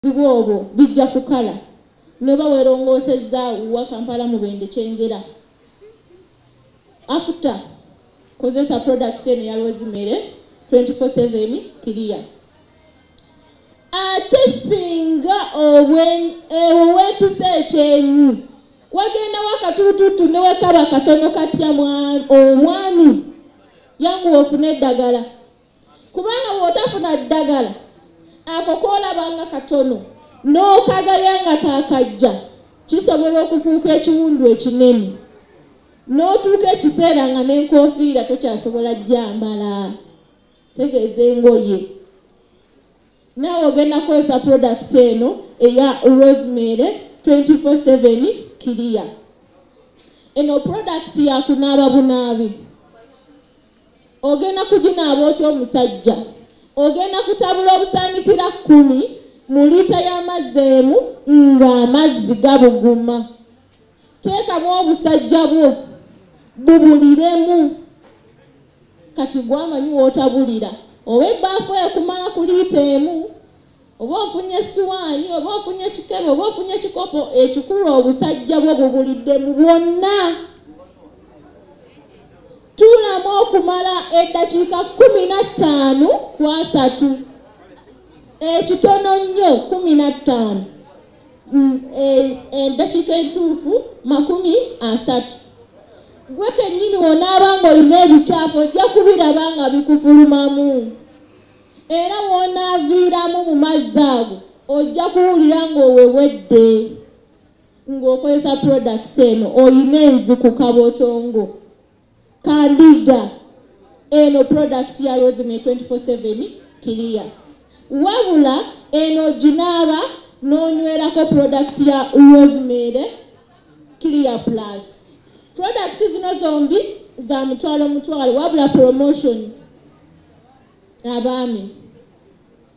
obuzibu obwo bijja kukala noba werongoosezza wa kampala mubende kyengera after kozesa product eno ya rosemary 24/7 clear ate singa ewo wepisa ekyenyi wagendawo akatulututu newekaba katono katya omwami yanguwa ofuna eddagala kubanga bw'otafuna ddagala ako koolaba nga katono n'okagaya nga kakajja kisobola okufuuka ekiwundu ekinene n'otuuka ekiseera nga n'enkofiira tokyasobola gyambala tegeeza engoye Naawe ogenda kukozesa product eno eya Rosemary 24/7 Clear. Eno product ya kunaaba bunaabi. Ogenda kuginaaba otya omusajja? Ogenda kutabula obusaanikira kkumi mu liita y'amazzi emu ng'amazzi gabuguma. teekamu obusajja bwo bubuliremu kati gwamanyi wotabulira oba ebbaafu ekumala ku liita emu oba ofunye esiwaani oba ofunye ekikebe oba ofunye ekikopo ekikulu obusajja bwo bubuliddemu bwonna tuulamu okumala eddakiika kumi na ttaano ku asatu ekitono nnyo kumi na ttaano mm, e, endakiika entuufu makumi asatu gwe kennyini wonaaba nga olina ebikyafu ojja kubiraba nga bikufulumamu era wonaaviiramu mu mazzi ago ojja kuwulira ng'owewedde ng'okozesa prodakiti eno olina enziku kabotongo kandida eno product ya rosemary 247 kiriya wabula eno ginaaba n'onywerako product ya rosemary clear plus product zino zombi za mutwalo mutwalo wabula promotion abaami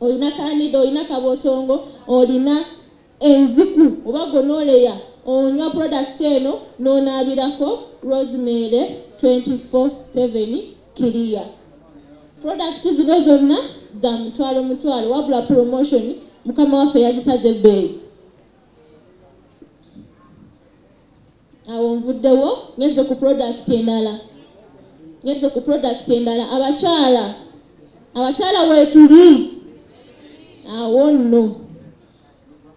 olina kanida olina kabotongo olina enziku oba gonoleya onywa product eno n'onaabirako rosemary 247 kiriya product zino zonna za mutwalo mutwalo wabula promotion mukama waffe yagisaze ebbeeyi awo nvuddewo ngenze ku product endala ngenze ku product endala abakyala abakyala weetuli awo nno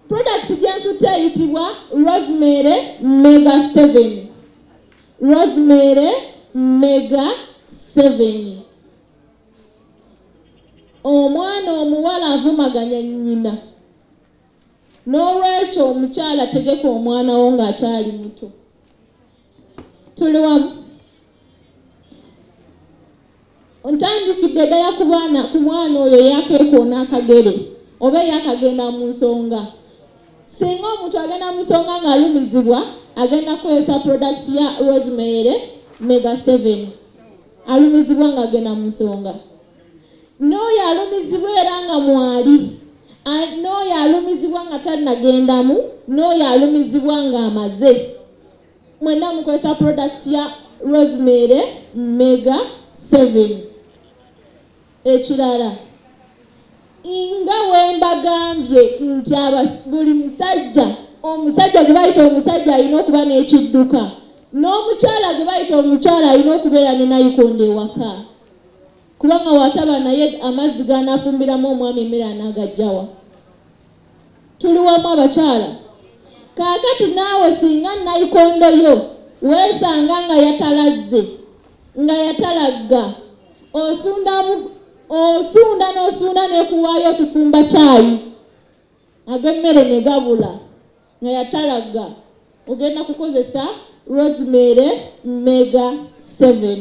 product gyenkutte eyitibwa rosemary mega 7 rosemary mega 7 omwana omuwala avumaganya nnyina n'olwekyo omukyala tegeka omwana wo ng'akyali muto tuli wamu ntandikidde ddala ku baana ku mwana oyo eyakeekoona akagere oba eyakagenda mu nsonga singa omuntu agenda mu nsonga ng'alumizibwa agenda kukozesa prodakiti ya rosemary mega 7 alumizibwa ng'agenda mu nsonga n'oyo alumizibwa era nga mwali n'oyo alumizibwa nga tannagendamu n'oyo alumizibwa ng'amaze mwenna mukozesa product ya rosemary mega 7 ekirala nga wembagambye nti buli musajja omusajja gwe bayita omusajja alina okuba n'ekidduka n'omukyala gwe bayita omukyala alina okubeera ne nayikondo ewaka kubanga wataba naye amazzi ganafumbiramu omwami emere anaagajjawa tuli wamu abakyala kaakati naawe singa nayikondo yo weesanga nga yatalazze nga yatalagga osunda osunda n'osunda nekuwaayo otufumba kyayi ag'emmere ne gabula nga yatalagga ogenda kukozesa rosemary mega 7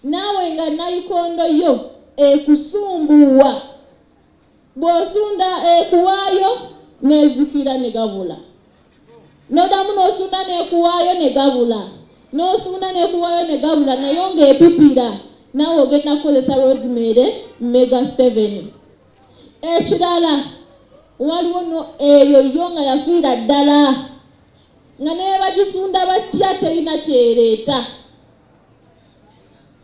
naawe nga nayikondo yo ekusumbuwa bw'osunda ekuwaayo n'ezikira ne gabula n'oddamu n'osunda n'ekuwaayo ne gabula n'osunda n'ekuwaayo ne gabula naye ng'epipira naawe ogenda kukozesa rosemary mega 7 ekirala waliwo no eyo yo nga yafiira ddala nga nebagisunda batya terina kyereeta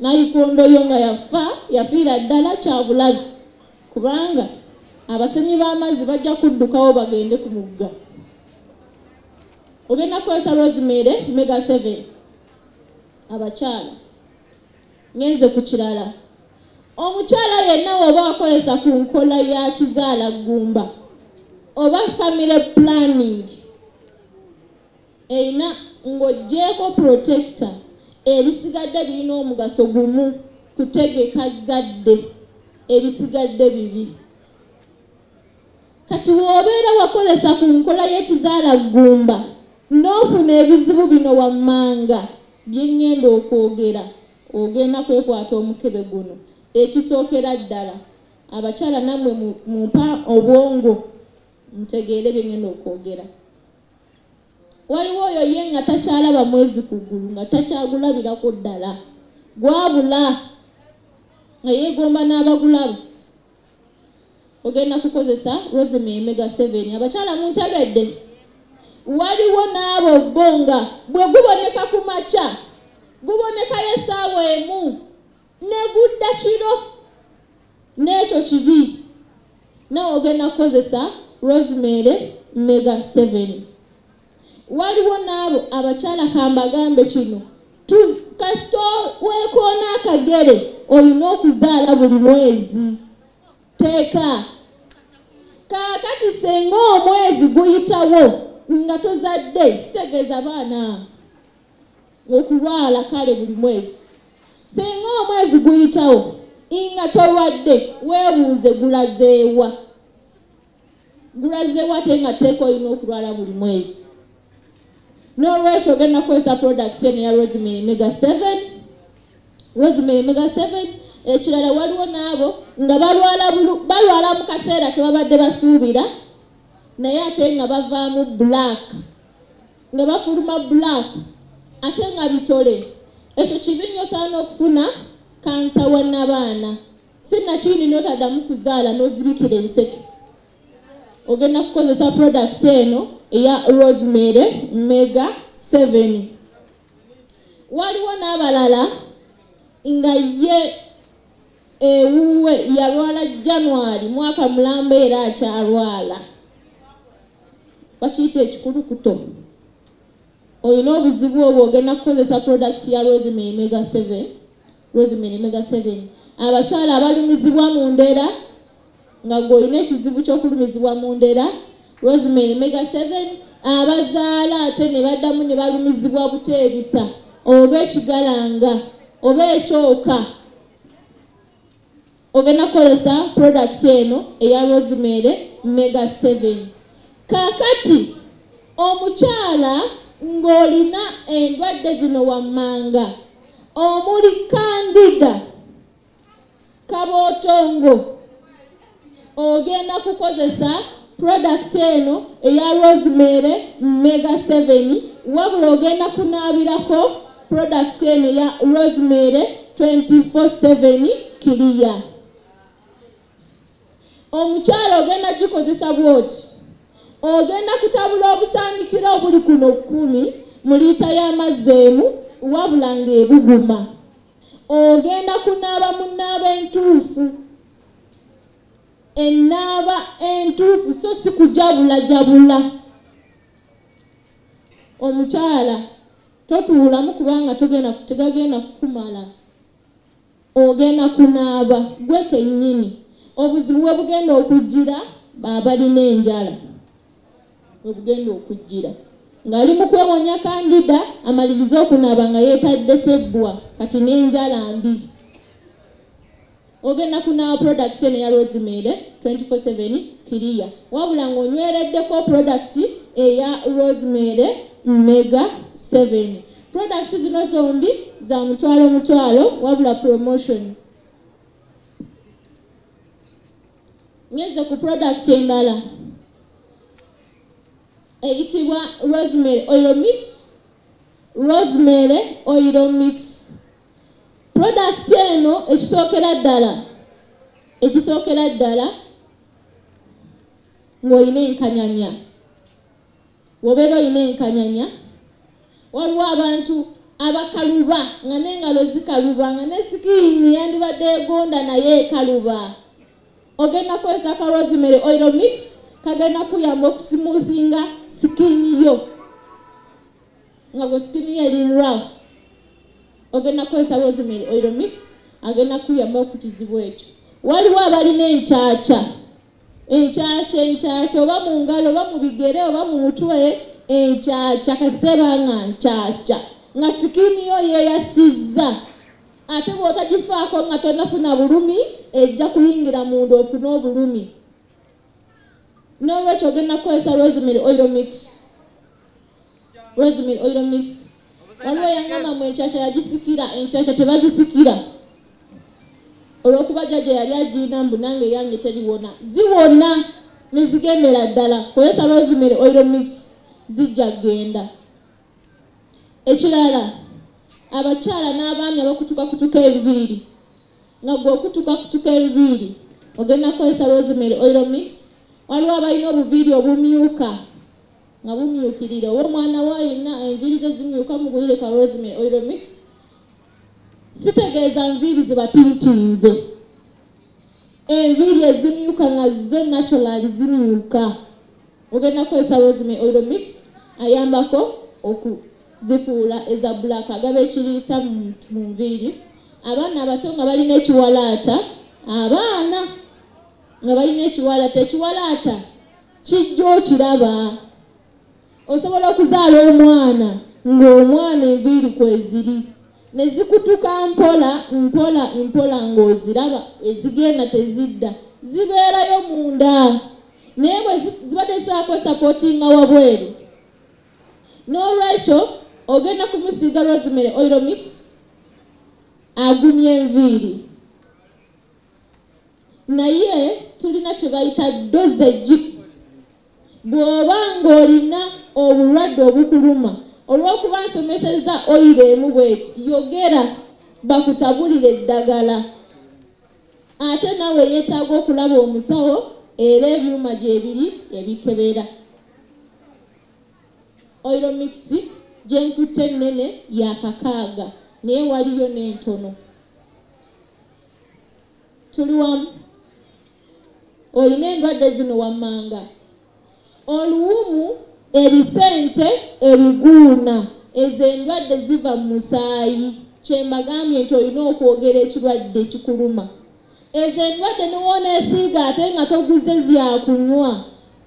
nayikondo yo nga yafa yafiira ddala kyabulabi kubanga abasenyi b'amazzi bajja kuddukawo bagende ku mugga ogenda kukozesa rosemary mega 7 abakyala ngenze ku kirala omukyala yenna woba wakozesa ku nkola ya kizaala ggumba oba family planning Erina ng'oggyeeko protector, ebisigadde birina omugaso gumu kutegeka zzadde, ebisigadde bibi. Kati w'obeera wakozesa ku nkola y'ekizaala ggumba n'ofuna ebizibu bino wammanga bye ŋŋenda okwogera, ogenda kwekwata omukebe guno. Ekisookera ddala abakyala nammwe mumpa obwongo mutegeere bye ŋŋenda okwogera. waliwo oyo ye nga takyalaba mwezi ku ggulu nga takyagulabirako ddala gwabula nga yeegomba n'abagulaba ogenda kukozesa roseme emega seven abakyala muntegedde waliwo n'abo bo nga bwe guboneka ku makya gubonekayo essaawa emu negudda kiro n'ekyo kibi nawe ogenda kukozesa rosemary mega 7 waliwo n'abo abakyala kambagambe kino kasita weekoona akagere olina okuzaala buli mwezi teeka kaakati senga omwezi guyitawo nga tozadde kitegeeza baana okulwala kale buli mwezi singa omwezi guyitawo inga tolwadde weebuuze gulazeewa gulazeewa te nga teeka olina okulwala buli mwezi n'olwekyo ogenda kukozesa product eno ya rosemary mega 7 rosemary mega 7 ekirala waliwo n'abo nga balwala mu kaseera ke babadde basuubira naye ate nga bavaamu black nga bafuluma black ate nga bitole ekyo kibi nnyo saana okufuna kansa wa nabaana sinakindi notadamu kuzaala nozibikira enseke ogenda kukozesa product eno eya rosemary mega 7 waliwo n'abalala nga ye ewuwe yalwala January mwaka mulamba era akyalwala bakiyita ekikulukuto olina obuzibu obwo ogenda kukozesa product ya rosemary mega 7 rosemary mega 7 abakyala abalumizibwa mu ndera nga gwe olina ekizibu ky'okulumizibwa mu ndera rosemary mega 7 abazaala ate ne baddamu ne balumizibwa buteebisa oba ekigalanga oba ekyoka ogenda kukozesa product eno eya rosemary mega 7 kakati omukyala ng'olina endwadde zino wammanga omuli kandida kabootongo ogenda kukozesa product eno eya rosemary mega 7 wabula ogenda kunaabirako product eno eya rosemary 247 kiriya omukyalo ogenda gikozesa bwoti ogenda kutabula obusaanikira obuli kuno kkumi mu liita y'amazzi emu wabula ng'ebuguma ogenda kunaaba mu naaba entuufu enaaba entuufu so si kujabulajabula omukyala totuulamu kubanga togenda tegagenda kukumala ogenda kunaaba gwe kennyini obuzibu bwe bugenda okujjira baabalina enjala webugenda okujjira ng'ali mu kwewonya kandida amalirize okunaaba nga yeetadde febbwa kati n'enjala mbi ogenda kunaawa product eno eya rosemary 247 kiriya wabula ng'onywereddeko product eya rosemary mega 7 product zino zombi za mutwalo mutwalo wabula promotion ngeze ku product endala eyitibwa rosemary oil mix rosemary oil mix product eno ekisookera ddala ekisookera ddala ng'olina enkanyanya wobeera olina enkanyanya waliwo abantu abakaluba nga nengalo zikaluba nga nesikiini yandibadde egonda naye ekaluba ogenda kukozesa ka rosemary oil mix kagenda kuyamba okusimuuthinga sikiini yo nga gwe sikiini yo eri raf ogenda kukozesa rosemary oil mix agenda kuyamba okukizibu ekyo waliwo abalina enkyakya enkyakya enkyakya oba mu ngalo oba mu bigere oba mu mutwe enkyakya kasiteba nga nkyakya nga sikini yo yeyasizza ate bwotagifaako nga tonafuna bulumi ejja kuyingira munda ofune obulumi n'olwekyo ogenda kukozesa rosemary oil mix rosemary oil mix waliwo yangamba mu enkyakya yagisikira enkyakya tebazisikira olwokuba jajja yali agirina mbu nange yange teriwona ziwona nezigendera ddala kozesa rosemary oil mix zijja genda ekirala abakyala n'abaami abakutuka kutuka ebibiiri nga gwe okutuka kutuka ebibiiri ogenda kukozesa rosemary oil mix waliwo abalina obuviiri obumyuka nga bumyukirira oba omwana wa yenna enviiri ze zimyuka mugulire ka rosemary oil mix sitegeeza nviiri zibatintinze enviiri ezimyuka nga zo natural zimyuka ogenda kukozesa rosemary oil mix ayambako okuzifuula eza black agaba ekiriisa mu nviiri abaana abato nga balina ekiwalaata abaana nga balina ekiwalaata ekiwalaata kijja okiraba osobola okuzaala omwana ng'omwana enviiri kweziri ne zikutuka mpola mpola mpola ng'oziraba ezigenda tezidda zibeerayo munda naye bwe ziba tezisaako sapootinga wabweru n'olwekyo ogenda kumusiiga rosemary oilomix agumya enviiri naye tulina kyebayita dosage bw'oba ng'olina obulwadde obukuluma olw'okuba nsomeseza oyiro emu bweti yogera bakutabulire eddagala ate nawe yeetaaga okulaba omusawo era ebyuma gyebiri ebikebera oiro mixi gyenkutte ennene yakakaaga naye waliyo n'entono tuli wamu olina endwadde zino wammanga oluwumu ebisente ebiguuna ezo endwadde ziva mu musaayi kyembagambye nti olina okwogera ekirwadde ekikuluma ezo endwadde niwoona esiiga ate nga toguze zyakunywa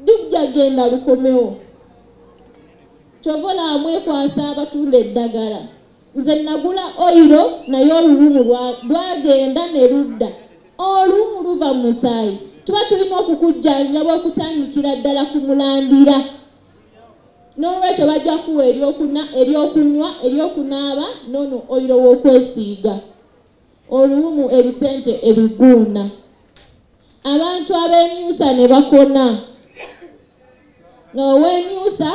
dijja genda lukomewo kyova olaba mwekwasa abatunda eddagala nze nagula oyiro naye oluwumu lwagenda ne ludda oluwumu luva mu musaayi tuba tulina okukujjanjira bwokutandikira ddala ku mulandira n'olwekyo bajja kuwa eryokunywa eryokunaaba nono oyiro w'okwesiiga oluwumu ebisente ebiguuna abantu ab'emyusa ne bakona nga ow'emyusa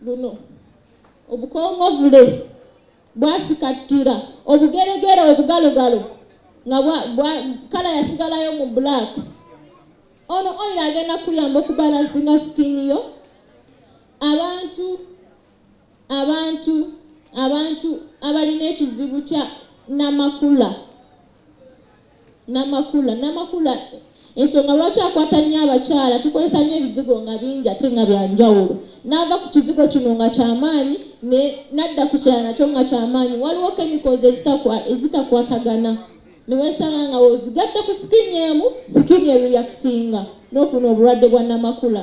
luno obukongovule bwasikattira obugeregere obugalogalo nga kala yasigalayo mu black ono oil agenda kuyamba okubalansinga sikini yo abantu abantu abantu abalina ekizibu kya namakula Namakula Namakula ensonga lwaki akwata nnyo abakyala tukozesa nnyo ebizigo nga bingi ate nga bya njawulo n'ava ku kizigo kino nga kyamaanyi n'adda ku kyala nakyo nga kyamaanyi waliwo kemikozi ezitakwatagana niwesanga nga wozigatta ku sikini emu sikini ereactinga n'ofuna obulwadde bwa namakula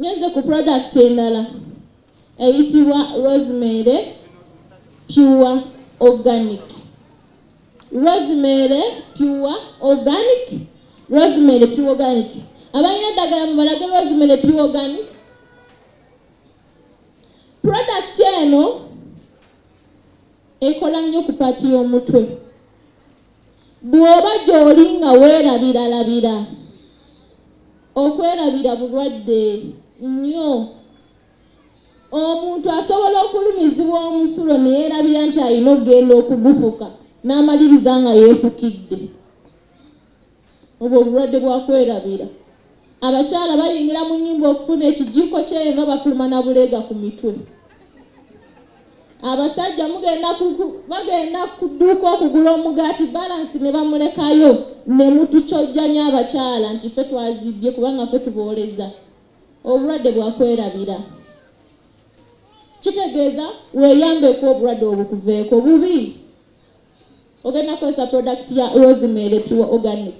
Ngeze ku product endala eyitibwa rosemary pure organic rosemary pure organic rosemary pure organic abalina eddagala mubalage rosemary pure organic product eno ekola nnyo ku paati y'omutwe Bw'oba gy'oli nga weerabiralabira, okwerabira bulwadde nnyo. Omuntu asobola okulumizibwa omusulo ne yeerabira nti alina okugenda okugufuka n'amaliriza nga yeefukidde. obwo obulwadde bwa kwerabira. Abakyala bayingira mu nnyumba okufuna ekijiiko ky'eyo nga bafuluma na buleega ku mitwe. Abasajja mugenda bagenda ku dduuka okugula omugaati balansi ne bamulekayo ne mutukyojjanya abakyala nti ffe twazibbye kubanga ffe tubooleza. Obulwadde bwa kwerabira. Kitegeeza weeyambeko obulwadde obukuveeko bubi. ogenda kozesa product ya rosemary pure organic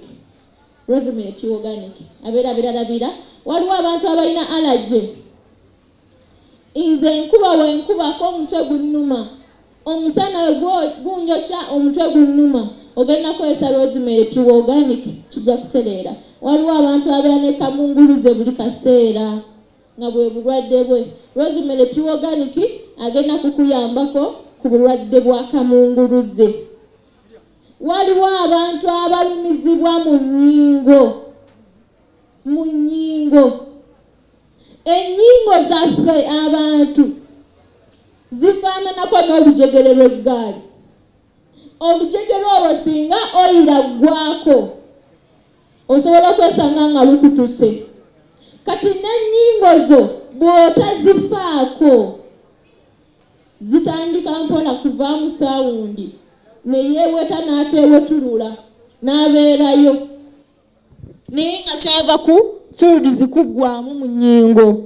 rosemary pure organic abeera biralabira waliwo abantu abalina allergy nze nkuba wenkubako omutwe gunnuma omusana gunjokya omutwe gunnuma ogenda kozesa rosemary pure organic kijja kutereera waliwo abantu abeera ne kamunguluze buli kaseera nga bwe bulwadde bwe rosemary pure organic agenda kukuyambako ku bulwadde bwa kamunguluze waliwo abantu abalumizibwa mu nyingo mu nyingo enyingo zaffe abantu zifaananako n'olujegere lw'eggaali olujegere olwo singa oyira ggwako osobola okwesanga nga lukutuse kati n'ennyingo zo bw'otazifaako zitandika mpola kuvaamu saawundi ne yeeweta n'ateewetulula n'abeerayo naye nga kyava ku fields kuggwamu mu nyingo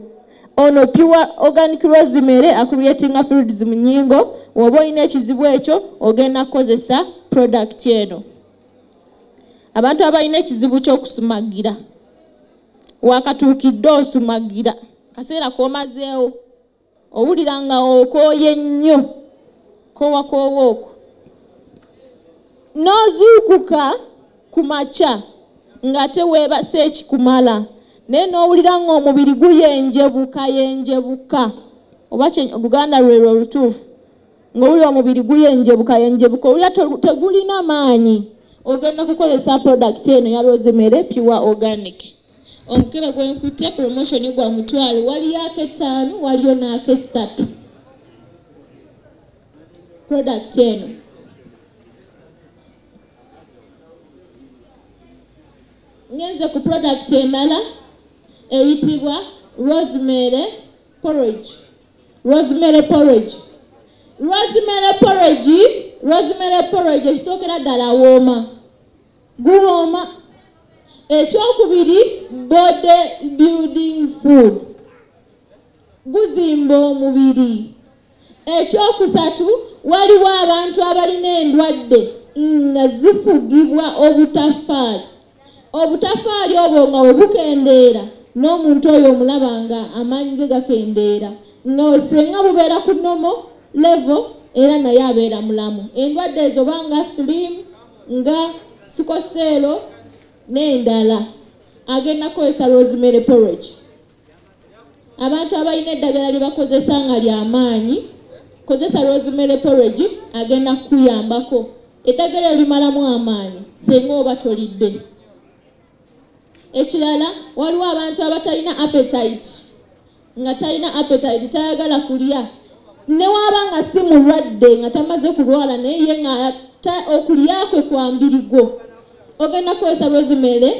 ono pure organic rosemary akureatinga fields mu nyingo woba olina ekizibu ekyo ogenda kukozesa product eno abantu abalina ekizibu kyokusumagira wakatuukidde osumagira kaseera komazeewo owulira nga okooye nnyo kowakoowa okwo n'ozuukuka ku makya nga teweebasa ekikumala naye n'owulira ng'omubiri guyenjebuka yenjebuka oba oluganda lwelwo olutuufu ng'owulira omubiri guyenjebuka yenjebuka owulira tegulina maanyi ogenda kukozesa product eno ya rosemary pure organic omukebe gwenkutte promotion gwa mutwalo waliyo akettaano waliyo n'akessatu product eno ngenze ku product emala eyitibwa rosemary porridge rosemary porridge rosemary porridge rosemary porridge ekisookera ddala wooma guwooma ekyokubiri body building food guzimba omubiri ekyokusatu waliwo abantu abalina endwadde nga zifugibwa obutafaali obutafaali obwo nga we bukendeera n'omuntu oyo omulaba nga amaanyi ge gakendeera nga osenga bubeera ku nomo levo era naye abeera mulamu endwadde ezo banga silimu nga sikoseero n'endala agenda kukozesa rosemary porridge abantu abalina eddagala lye bakozesa nga lyamaanyi kozesa rosemary porridge agenda kukuyambako eddagala elimalamu amaanyi singa oba tolidde ekirala waliwo abantu abatalina appetite nga talina appetite tayagala kulya newaaba nga si mulwadde nga tamaze kulwala naye ye nga okulya kwe kwambirigwo ogenda kukozesa rosemary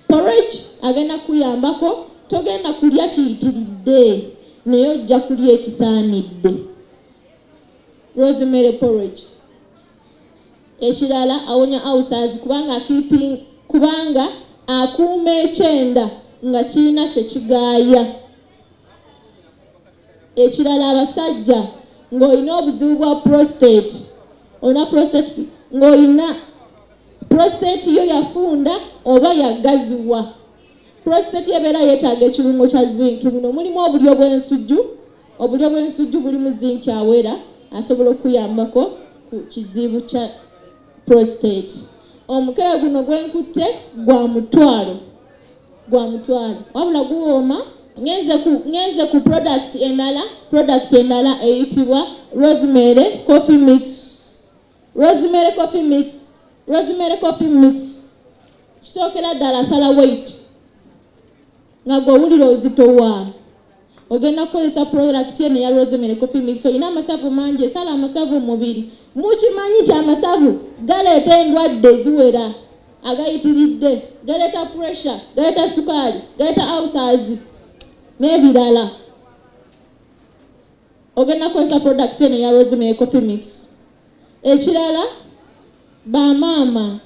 porridge agenda kuyambako togenda kulya kiyitiridde naye ojja kulya ekisaanidde rosemary porridge Ekirala awonya awusaazi kubanga akiiping kubanga akuuma ekyenda nga kirina kye kigaaya. Ekirala abasajja ng'olina obuzibu bwa prostate olina prostate ng'olina prostate yo yafunda oba yagaziwa. Prostate ebeera yeetaaga ekirungo kya zinc. Muno mulimu obulyo bw'ensujju Obulyo bw'ensujju bulimu zinki awera asobola okuyambako ku kizibu kya prostate. Omukebe guno gwenkutte gwa mutwalo gwa mutwalo wabula guwooma ngenze ku product endala product endala eyitibwa rosemary coffee mix rosemary coffee mix rosemary coffee mix kisookera ddala sala weight nga gwe owulira ozitowa ogenda kukozesa product eno eya rosemary coffee mix olina amasavu mangi esala amasavu mumubiri mukimanyi nti amasavu galeeta endwadde ziwera agayitiridde galeeta pressure galeeta sukaali galeeta ausazi n'ebirala ogenda kukozesa product eno eya rosemary coffee mix ekirala Ba maama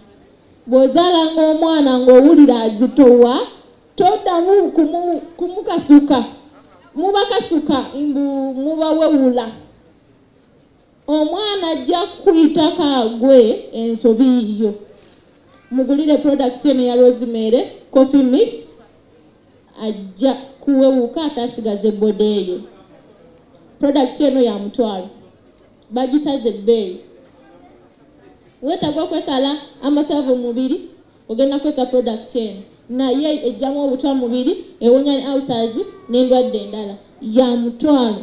bw'ozaalanga omwana ng'owulira azitowa toddamu kumukasuka mubakasuka mbu mubawewula omwana ajja kuyitako agwe ensobi yiyo mugulire product eno ya rosemary coffee mix ajja kuwewuka ate asigaze boda eyo product eno ya mutwalo bagisaze ebbeeyi weetaaga okwesala amasavu mu mubiri ogenda kukozesa product eno naye ejjamu obutwa mubiri ewonya ne ulcers n'endwadde endala ya mutwalo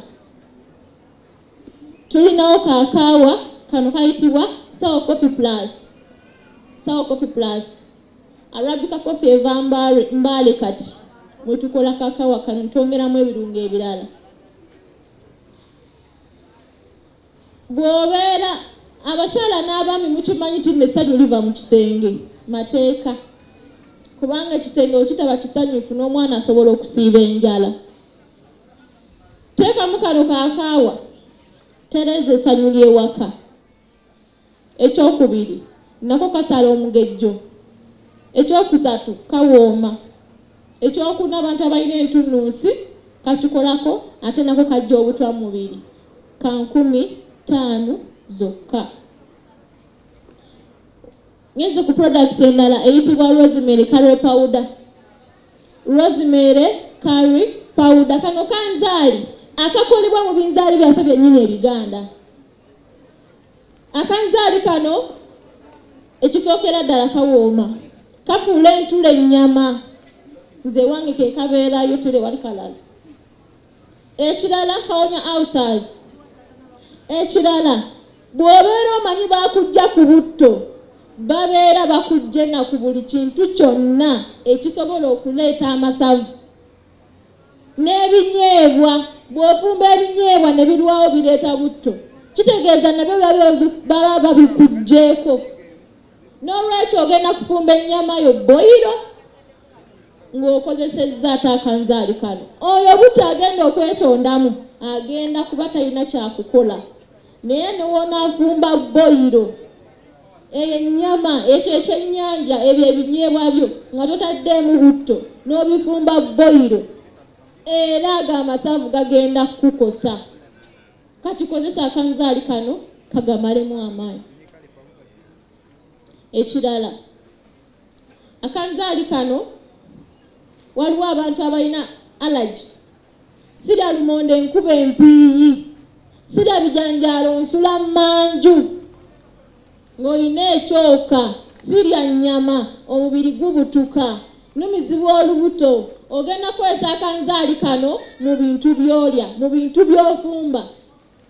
tulinawo kakaawa kano kayitibwa sawa coffee plus sawa coffee plus arabika coffee eva mbaale kati mwetukola kakaawa kano twongeramu ebirungo ebirala bw'obeera abakyala n'abaami mukimanyi nti nesanyu liva mu kisenge mateeka kubanga ekisenge okitaba kisanyufu n'omwana asobola okusiiba enjala teekamu kano kakaawa tereeza esanyu ly'ewaka Ekyokubiri, nako kasala omugejjo. Ekyokusatu, kawooma. Ekyokuna, abantu abalina entunnunsi kakikolako ate nako kajja obutwa mu mubiri ka nkumi ttaano zokka. Ngenze ku product endala eyitibwa Rosemary Curry Powder. Rosemary Curry Powder kano kanzaali akakolebwa mu binzaali byaffe byennyini ebiganda. akanzaali kano ekisookera ddala kawooma kafuula entula ennyama nze ewange ke kabeerayo tule wali kalala ekirala kawonya ausas ekirala bw'obeera omanyi bakujja ku butto babeera bakujjena ku buli kintu kyonna ekisobola okuleeta amasavu n'ebinyeebwa bw'ofumba ebinyeebwa ne birwawo bireeta butto kitegeeza nabyo baba babikuggyeko n'olwekyo ogenda kufumba ennyama yo boyiro ng'okozesezza ate akanzaali kano oyo butto agenda okwetondamu agenda kuba talina kyakukola naye newonaavumba boyiro eyo ennyama ekyo ekyennyanja ebyo ebinyeebwa byo nga totaddeemu butto n'obifumba boyiro era ago amasavu gagenda kukukosa kati kozesa akanzaali kano kagamalemu amaanyi ekirala akanzaali kano waliwo abantu abalina allergy sirya lumonde nkuba empiiyi sirya bijanjaalo nsula mmanju ng'olina ekyoka sirya nnyama omubiri gubutuka numizibwa olubuto ogenda kukozesa akanzaali kano mu bintu byolya mu bintu byofumba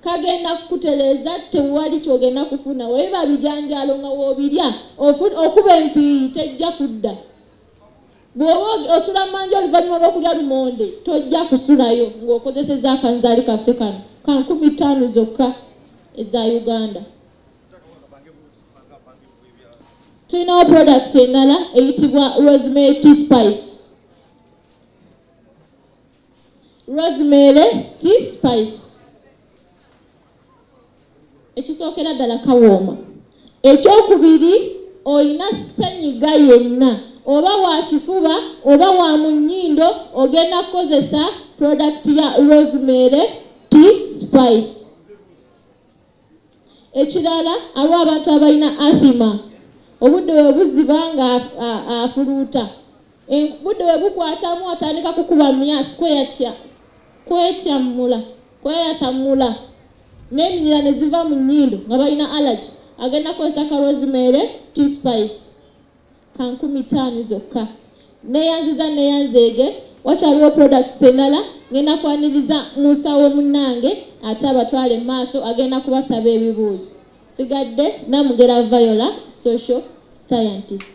kagenda kukutereeza tewali kyogenda kufuna webiba bijanjaalo nga wobirya okuba empiiyi tejja kudda bw'oba osula manja oluvannyuma lw'okulya lumonde tojja kusulayo ng'okozeseza akanzaali kaffe kano ka nkumi ttaano zokka eza uganda tulinawo product endala eyitibwa rosemary t spice rosemary t spice ekisookera ddala kawooma ekyokubiri olina senyiga yenna oba wakifuba oba wa mu nnyindo ogenda kukozesa product ya rosemary t spice ekirala aliwo abantu abalina athima obudde we buziba nga afuluuta budde we bukwatamu atandika kukuba myasi kweyatya kwetyammula kweyasammula n'eminyira ne ziva mu nnyindo nga balina allergy agenda kozesa kalwozimeere t spice ka nkumi ttaano zokka neyanziza neyanzeege wakyaliwo products endala ngenda kwaniriza musawo munnange ate abatwale maaso agenda kubasaba ebibuuzo sigadde namugera viola social scientist